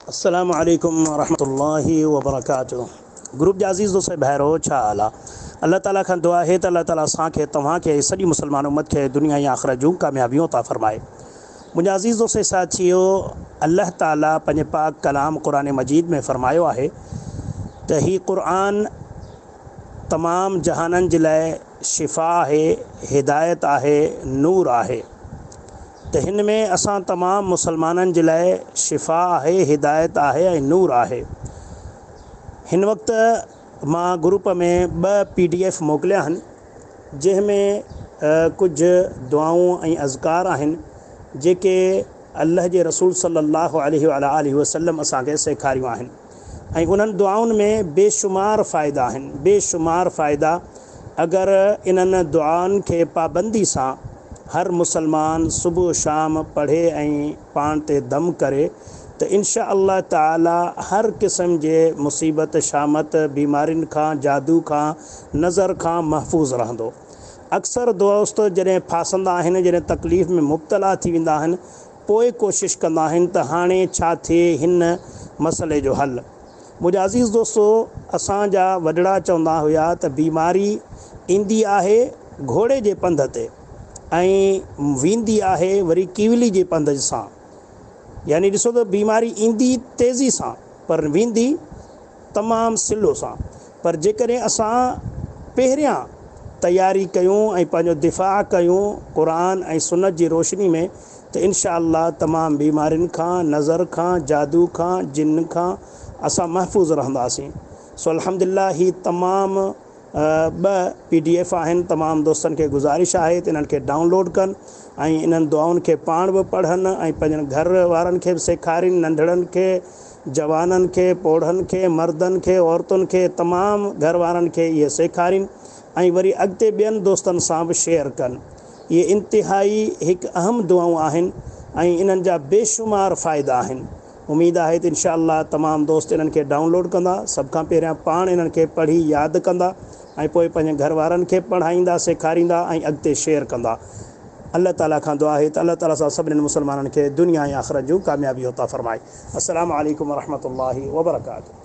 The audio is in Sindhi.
السلام عليڪم ورحمة الله وبرڪاته گروپ جا عزيز دوست ۽ ڀائرو ڇا حال آ الله تعالي کان دعا آهي ته الله تعالي اسان کي توهان کي ۽ سڄي مسلمان امت کي دنيا ۽ آخرت جون ڪاميابيون عطا فرمائي منهنجا عزيز دوست ۽ ساٿيو الله تعالي پنهنجي پاڪ ڪلام قرآن مجيد ۾ فرمايو آهي ته هي قرآن تمام جهانن جي لاء شفا آهي هدايت آهي نور آهي ته هن ۾ اسان تمام مسلمانن جي لاء شفا آهي، هدايت آهي ۽ نور آهي. هن وقت مان گروپ ۾ ٻه پي ڊي ايف موڪليا آهن جنهن ۾ ڪجهه دعائون ۽ اذڪار آهن جيڪي الله جي رسول صلي الله عليه وعلي آله وسلم اسان کي سيکاريون آهن. ۽ انهن دعائن ۾ بيشمار فائدا آهن، بي شمار فائدا، اگر انهن دعائن کي پابندي سان هر مسلمان صبح و شام پڙهي ۽ پاڻ تي دم ڪري ته انشاء الله تعالي هر قسم جي مصيبت شامت، بيمارين کان، جادو کان، نظر کان محفوظ رهندو. اڪثر دوست جڏهن ڦاسندا آهن، جڏهن تڪليف ۾ مبتلا ٿي ويندا آهن پوء ڪوشش ڪندا آهن ته هاڻي ڇا ٿئي هن مسئلي جو حل؟ منهنجا عزيز دوستو! اسان جا وڏڙا چوندا هيا ته بيماري ايندي آهي گهوڙي جي پنڌ تي ۽ ويندي آهي وري ڪيولي جي پنڌ سان. يعني ڏسو ته بيماري ايندي تيزي سان پر ويندي تمام سلو سان پر جيڪڏهن اسان پهريان تياري ڪيون ۽ پنهنجو دفاع ڪيون قرآن ۽ سنت جي روشني ۾ ته انشاء الله تمام بيمارين کان نظر کان جادو کان جن کان اسان محفوظ رهنداسين سو الحمدلله هي تمام ٻه پي ڊي ايف آهن تمام دوستن کي گذارش آهي ته انهن کي ڊائون لوڊ ڪن ۽ انهن دعائن کي پاڻ به پڙهن ۽ پنهنجن گهر وارن کي به سيکارين ننڍڙن کي جوانن کي، پوڙهن کي، مردن کي، عورتن کي، تمام گهر وارن کي اهي سيکارين ۽ وري اڳتي ٻين دوستن سان به شيئر ڪن. اهي انتهائي هڪ اهم دعائون آهن ۽ انهن جا بيشمار فائدا آهن. اميد آهي ته انشاء الله تمام دوست انهن کي ڊائونلوڊ ڪندا، سڀ کان پهريان پاڻ انهن کي پڙهي ياد ڪندا ۽ پوء پنهنجن گهر وارن کي پڙهائيندا، سيکاريندا ۽ اڳتي شيئر ڪندا. الله تعالي کان دعا آهي ته الله تعالي اسان سڀنين مسلمانن کي دنيا ۽ آخرت جون ڪاميابيون عطا فرمائي. السلام عليڪم ورحمة الله وبرڪاته.